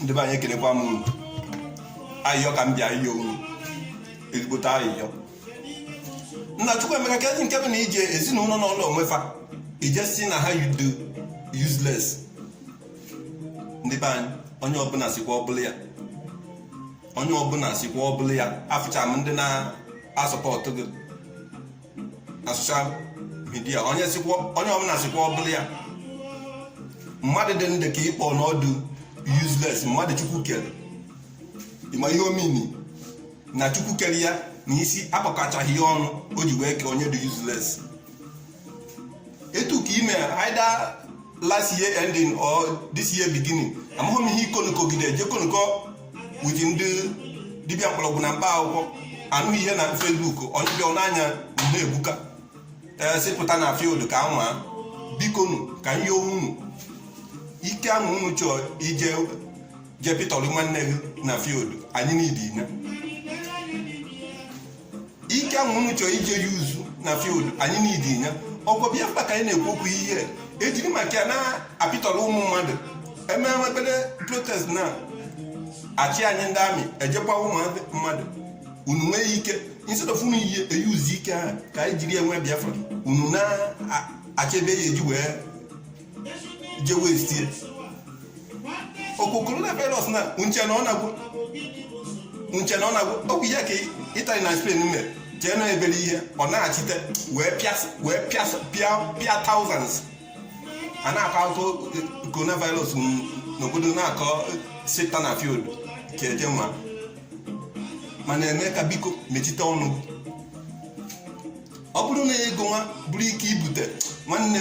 ndị be anyị ekelekwa m ayịyọ ka m bịa ịyọ unu ezigbote ayịyọ nna chukwu emeka kedụ nke bụ na ije ezinụlọ na ụlọ onwefa ije si na ha yudo useless ndị be anyị onye ọbụla sikwa ọbụla ya onye ọbụla sikwa ọbụla ya afụcha m ndị na-asupport gị na social media onye ọbụla sikwa ọbụla ya mmadụ dị ndụ ka ị kpọ na ọ dị useless mmadụ chukwu kere ị ma ihe ọ mean na chukwu kere ya na isi akpakọchaghị ya ọnụ o ji wee kee onye dị useless etu ka i me either last year ending or this year beginning amaghị m ihe ikonukogide jekonukọ with ndị dibịa mkpọrọgwụ na mkpa akwụkwọ anụ ihe na Facebook onye bịa n'anya mgbe ebuka ị pụta eh, na field ka anwa bikonu ka m yọọ unu ike ahụ unu chọọ ije jepịtọrọ nwanne gị na field anyị need ike ahụ unu chọrọ ije use na field anyị need ya okwu biafra ka anyị na-ekwu okwu ihe e jiri maka ya na-apịtọrọ ụmụ mmadụ e mee obere protest na achị anyị ndị army eje gbaa ụmụ mmadụ unu nwee ike instead of unu e-use ike ahụ ka anyị jiri enwe biafra unu na-achebe ya eji wee je waste ya okwu coronavirus na nche na ọ na-agwọ nche na ọ na-agwọ ọgwụ ya ka Italy na spain mere jee na obere ihe ọ na-achite wee pịas wee pịas pịa pịa thousands a na-akọ akụkọ coronavirus n- n'obodo na-akọ sita na field ka eje nwa mana eme ka biko mechite ọnụ ọ bụrụ na ego nwa bụrụ ike ibute nwanne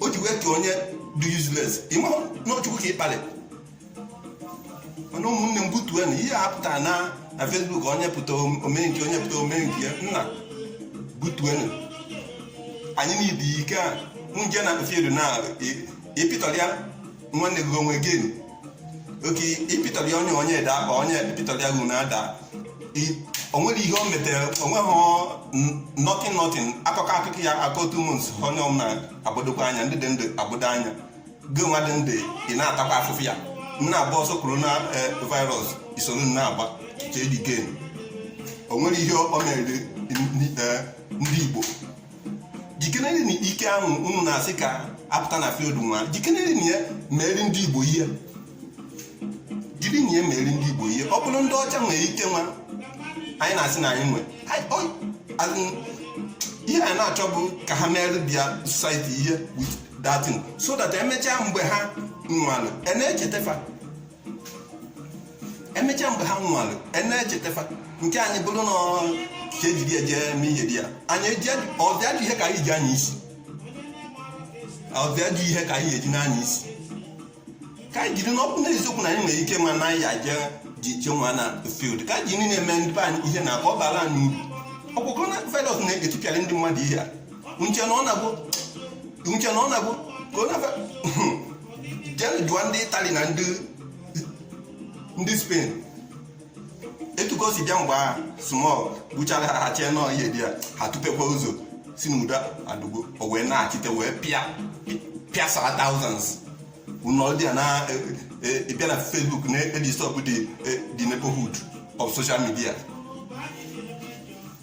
o ji wee kee onye dị useless ị ma na ọ chukwu ka ị kpalị mana ụmụnne m butuenu ihe a pụtara na na Facebook onye pụta omee nke onye pụta omee nke ya nna butuenu anyị need ike a unu je na field na ịpịtọrọ ya nwanne gị onwe gị okay ịpịtọrọ ya onye onye ede akpa onye ịpịtọrọ ya gị na ada o nwere ihe o metere onweghị nothing nothing akụkọ akụkọ ya akọ otu ụmụ nso onye ọm na-agbadokwa anya ndị dị ndụ agbado anya gị nwa dị ndụ ị na-atakwa afụfụ ya na-agba ọsọ corona e, virus i soro na-agba jee dị gen o nwere ihe o mere e, ndị Igbo jikenere na ike ahụ unu na-asị ka a pụta na field nwa jikenere na ya meeri ndị igbo ihe jiri na ya meeri ndị igbo ihe ọ bụrụ ndị ọcha nwere ike nwa anyị na-asị na anyị nwe Anyị- ọ- as in, ihe anyị na-achọ bụ ka ha meere their society ihe with that thing so that emechaa mgbe ha nwụlụ e na-echeta fa emechaa mgbe ha nwụrụ e na-echeta fa nke anyị bụrụ na ka e jiri ya jee eme ihe dị ya anyị eji ọ bịa dị ihe ka anyị ji anya isi ọ bịa dị ihe ka anyị eji na-anya isi ka anyị jiri ọ bụrụ na eziokwu na anyị nwere ike ma na ya jee ji je nwa na field ka anyị ji niile eme ndị anyị ihe na ọ bara anyị uru ọkwa coronavirus na-etipịara ndị mmadụ ihe a nche na ọ na-agwụ nche na ọ na-agwụ ka ọ na jee jụọ ndị itali na ndị ndị spain etu ka o si bịa mgbe ahụ smog gbuchara ha ha chee na ọ ihe dị ya ha tụpekwa ụzọ sị n'udo adịgo o wee na-achite wee pịa pịasa thousands unu nọdị na-abịa na facebook na-edisturb the neighborhood of social media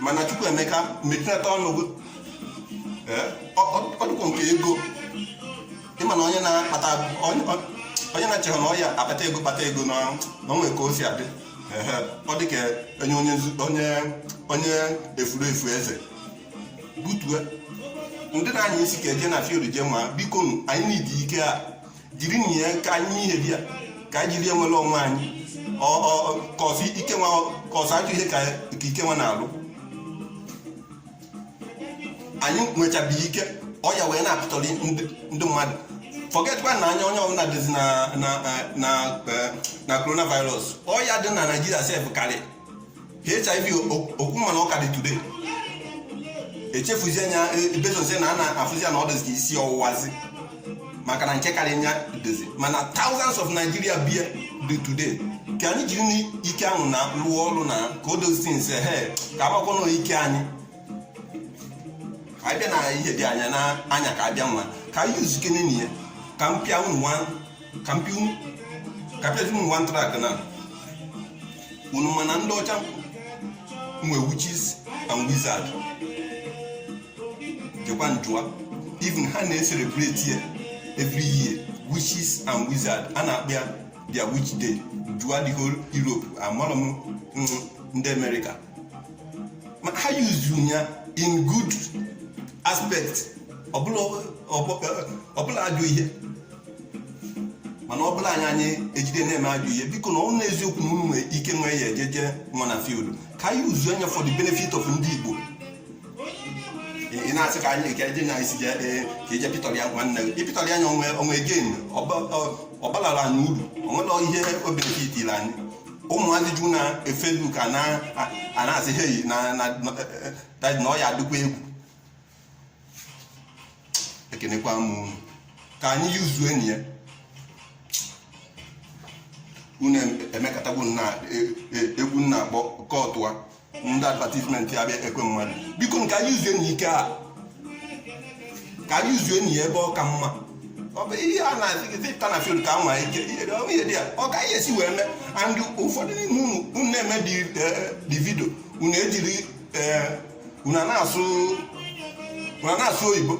mana chukwuemeka mechinata ọnụ gị ọdụkwụ nke ego ị ma na onye na-akpata onye na-echekwa na ọ ya akpata ego kpata ego na o nwe ka o si adị ọ dị ka onye onye onye efuru efu eze butue ndị na-anya isi ka e je na field jewa biko anyị na ụdị ike a jiri na ya ka anyị ihe dị ya ka anyị jiri enwere onwe anyị cos ike nwa cos ajọ ihe ka ike nwa na-alụ anyị nwechabeghị ike ọya wee na-akpatara ndị mmadụ forgetkwa na anya onye ọbụla dịzi na coronavirus ọya dị na naijiria sef karị hiv okwu mana ọ ka dị today echefuzie nya e, bezozie na a na-afụzi ya na ọ dịzi isi ọwụwazi maka na nke karị nya dịzi mana thousands of Nigeria bu ya dị today ka anyị jiri n'ike ahụ na rụọ ọrụ na ka o dozi nse he ka agbakwana ike anyị abịa na ihe dị anya na anya ka abịa nwa ka anyị usekene na ya ka m pịa unu ka m pịa unu ka m pịa unu nwa ntrak na unu mana ndị ọcha nwe witches and wizard jekwa jụa even ha na-ecelebrate ya every year witches and wizard a na-akpọ ya their witch day jụa the whole Europe amarọ m mm, ndị America ma ha use ya in good aspect ọ bụrọ ajọ ihe mana ọ bụla anyị anyị ejide na-eme ajọ ihe biko na ọ na eziokwu na unu nwee ike nwee ya ejeje nwa na field ka anyị yuzuonụ ya for the benefit of ndị Igbo ị na-asị ka anyị ka eje na isi ka eje pịtọrọ ya nwanne gị ịpịtọrọ ya anya o nwe o nwe gain ọ baara anyị uru o nwere ihe o benefitili anyị ụmụazị ju na Facebook ka na-asị heyi na na ọya dịkwa egwu ekenekwa m unu ka anyị yuzuonụ ya unu emekọtagbu na e, e, egwu nna akpọkọta ndị advertisement abịa ekwe mmadụ biko ka anyị yuzuonụ ike a ka anyị yuzuonụ ya ebe ọ ka mma ọ bụ ihe a na-asị gị zipụta na field ka nwa ike ihe dị ya ọ gaghị esi wee mee and ụfọdụ n'ime unu unu na-eme di eh, vidio unu ejiri eh, unu na-asụ oyibo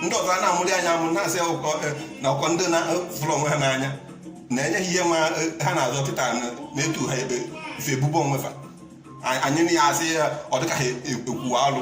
ndị ọzọ a na-amụrị anyị amụ na-asị e, na ọkwa ndị na-fụrụ onwe ha n'anya na-enye ha ihe ma e, ha na-azọ kịta na-etu ha ebe ife ebubo onwe fa anyị na ya asị ya ọ dịka ha ekwuwa alụ